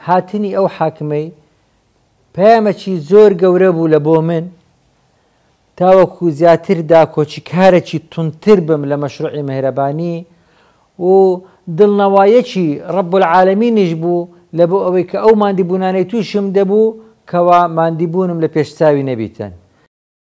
هاتنی ئەو حاکمەی پەیامەکی زۆر گەورە بوو لە بۆ من تاوەکو زیاتر داکۆکی کارەکی تونتر بم لە مەشروعی مهرەبانی و دڵنەوایەکی ڕب العالمینیش بوو لە بۆ ئەوەی کە ئەو ماندیبوونانەی تووشم دەبوو کەوا ماندیبوونم لە پێش چاوی نەبیتن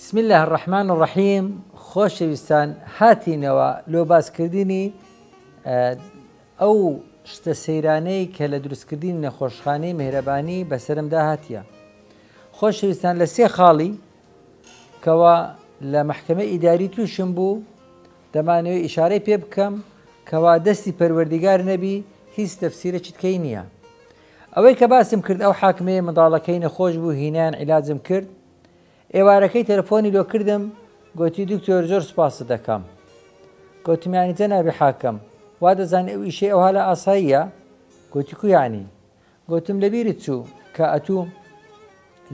بسم اللە الرحمن الرحیم خۆشەویستان هاتینەوە لۆ باسکردنی ئەو شتە سەیرانەی کە لە دروستکردنی نەخۆشخانەی مهرەبانی بەسەرمدا هاتیە خۆشەویستان لە سێ خاڵی کەوا لە محکمە ئیداری تووشم بوو دەمانەوە ئیشارەی پێ بکەم کەوا دەستی پەروەردیگار نەبی هیچ تەفسیرە چتکەی نییە ئەوەی کە باسم کرد ئەو حاکمەیە منداڵەکەی نەخۆش بوو هینان عیلاجم کرد ئێوارەکەی تەلەفۆنی لۆ کردم گۆتی دکتۆر زۆر سوپاست دەکەم گۆتمیانی جەنابی حاکم وا دەزانی ئەو ئیشەی ئەوها لە ئاساییە گۆتی کو یانی گۆتم لەبیرت چوو کە ئەتوو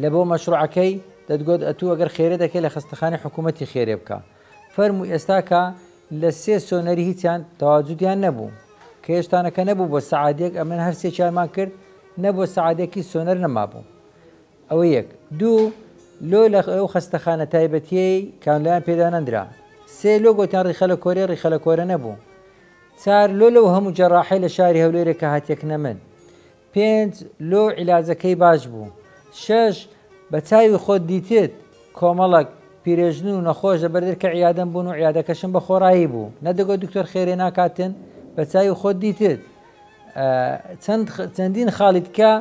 لە بۆ مەشروعەکەی دەتگۆت ئەتوو ئەگەر خێرێ دەکەی لە خەستەخانەی حکوومەتی خێرێ بکە فەرموو ئێستا کە لە سێ سۆنەری هیچیان تەواجودیان نەبوو کە هێشتانەکە نەبوو بۆ سەعادێک ئەمن هەر سێکیانمان کرد نەبوو سەعادێکی سۆنەر نەمابوو ئەوە یەک. دوو، لۆ لە ئەو خەستەخانە تایبەتییەی کانولایان پێ دانەندرا. سێ، لۆ گۆتیان ڕیخەلە کۆرێ، ڕیخەلە کۆرە نەبوو. چار، لۆ لەو هەموو جەراحەی لە شاری هەولێرێ کە هاتیە کنە من. پێنج، لۆ عیلاجەکەی باش بوو. شەش، بە چاوی خۆت دیتت کۆمەڵەک پیرێژن و نەخۆش لە بەر دەرکە عیادەم بوون و عیادەکەشم بە خۆڕایی بوو. نەدەگۆت دکتۆر خێرێ ناکاتن؟ بە چاوی خۆت دیتت چەند چەندین خاڵی دکە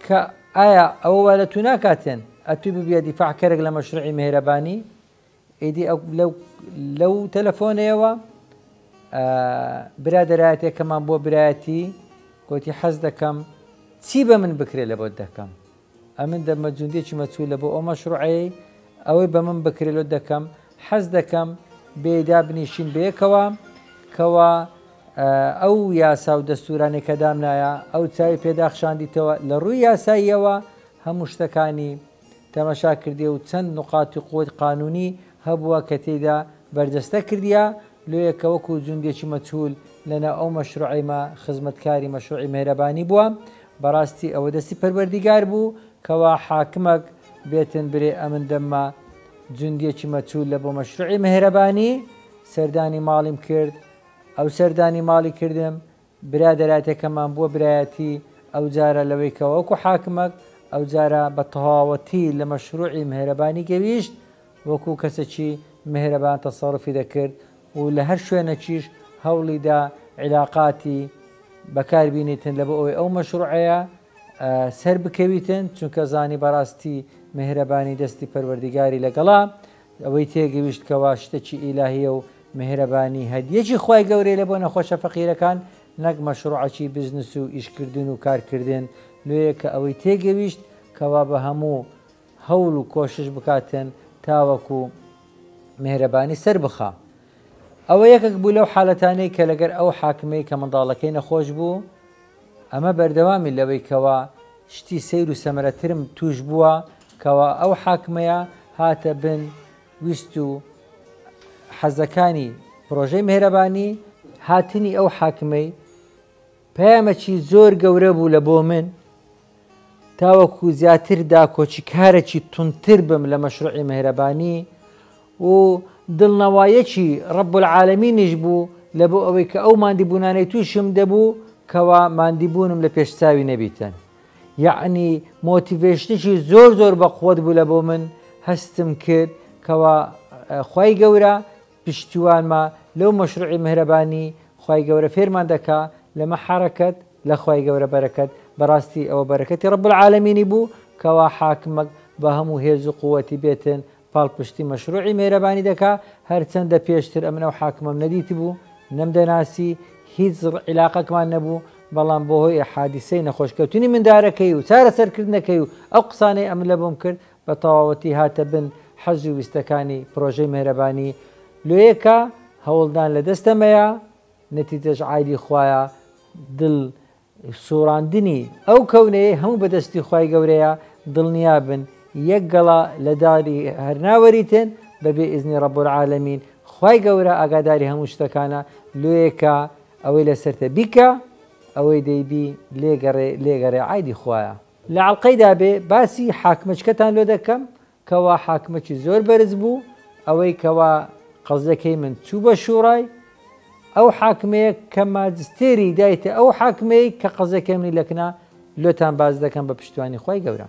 کە ئایا ئەوە وا لە تو ناکاتێن ئەتوی ببیە دیفاع کەرێک لە مەشرعی مهرەبانی ئیدی ئەو لەو لەو تەلەفۆنەیەوە برادەرایەتێکەمان بۆ برایەتی گوتی حەز دەکەم چی بە من بکرێ لە بۆت دەکەم ئەمن دەمە جوندێکی مەچوو لە بۆ ئەو مەشروعەیە ئەوەی بە من بکرێت لۆ دەکەم حەز دەکەم بێدا بنیشین بەیەکەوە کەوا ئەو یاسا و دەستورانەی کە دامنایە ئەو چاوی پێ داخشاندیتەوە لە ڕووی یاساییەوە هەموو شتەکانی تەمەشا کردیە و چەند نوقاتی قووت قانونی هەبووە کە تێیدا بەرجەستە کردیە لۆیە کە وەکو جوندێکی مەچهول لە ناو ئەو مەشروعەیمە خزمەتکاری مەشروعی مێهرەبانی بووە بەڕاستی ئەوە دەستی پەروەردیگار بوو کەوا حاکمەک بێتن برێ ئەمن دەممە جوندێکی مەچهول لە بۆ مەشروعی مێهرەبانی سەردانی ماڵیم کرد ئەو سەردانی ماڵی کردم برادەراتێکەمان بووە برایەتی ئەوجارە لەوەی کە وەکو حاکمەک ئەوجارە بە تەواوەتی لە مەشروعی مهرەبانی گەویشت وەکو کەسەکی مهرەبان تەسەرفی دەکرد و لە هەر شوێنەکیش هەوڵی دا عیلاقاتی بەکار بینیتن لە بۆ ئەوەی ئەو مەشروعەیە سەر بکەویتن چونکە زانی بەڕاستی مهرەبانی دەستی پەروەردیگاری لەگەڵا ئەوەی تێگەیشت کەوا شتەکی ئیلاهیە و میهرەبانی هەدیەکی خوای گەورەیە لە بۆ نەخۆشە فەقیرەکان نەک مەشڕوعەکی بزنس و ئیش کردن و کار کردن لۆیە کە ئەوەی تێگەیشت کەوا بە هەموو هەوڵ و کۆشش بکاتن تاوەکو میهرەبانی سەر بخا ئەوە یەکەک بوو لەو حالەتانەی کە لەگەر ئەو حاکمەی کە منداڵەکەی نەخۆش بوو ئەمە بەردەوامی لەوەی کەوا شتی سەیر و سەمەرەترم تووش بووە کەوا ئەو حاکمەیە هاتە بن ویست و حەزەکانی پرۆژەی مێهرەبانی، هاتنی ئەو حاکمەی پەیامەکی زۆر گەورە بوو لە بۆ من تاوەکو زیاتر داکۆکیکارێکی توندتر بم لە مەشروعی مەهرەبانی و دڵنەوایەکی رب العالمینیش بوو لە بۆ ئەوەی کە ئەو ماندیبوونانەی تووشم دەبوو کەوا ماندیبوونم لە پێش چاوی نەبیتن یەعنی مۆتیڤێشنێکی زۆر زۆر بەقوەت بوو لە بۆ من هەستم کرد کەوا خوای گەورە پشتیوانمە لەو مەشروعی مهرەبانی خوای گەورە فێرمان دەکا لەمە حەرەکەت لە خوای گەورە بەرەکەت بەراستی ئەوە بەرەکەتی رب العالمینی بوو کەوا حاکمەک بە هەموو هێز و قوەتی بێتن پاڵپشتی مەشروعی مهرەبانی دەکا هەرچەندە پێشتر ئەمن ئەو حاکمەم نەدیتبوو نەم دەناسی هیچ عیلاقەکمان نەبوو بەڵام بۆ هۆی حادیسەی نەخۆش کەوتنی مندارەکەی و چارەسەر کردنەکەی و ئەو قسانەی ئەمن لەبۆم کرد بە تەواوەتی هاتە بن حەز و ویستەکانی پرۆژەی مێهرەبانی لۆیێ کە هەوڵدان لە دەستە مەیە نەتیجەش عایدی خوایە دڵ سوڕاندنی ئەو کەونەیەی هەموو بەدەستی خوای گەورەیە دڵنیا بن یەک گەڵا لە داری هەرناوەریتن بەبێ ئیزنی ڕەب العالمین خوای گەورە ئاگاداری هەموو شتەکانە لۆیەکە ئەوەی لەسەرتە بیکە ئەوەی دەیبی لێگەڕێ لێگەڕێ عایدی خوایە لە ئەڵقەی دابێ باسی حاکمەچکەتان لۆ دەکەم کەوا حاکمەکی زۆر بەرز بوو ئەوەی کەوا قەزەکەی من چوو بە شوڕای ئەو حاکمەیە کە ماجستێری دایتە ئەو حاکمەی کە قەزەکەی منی لەکنا لۆتان باز دەکەم بە پشتوانی خی گەورە.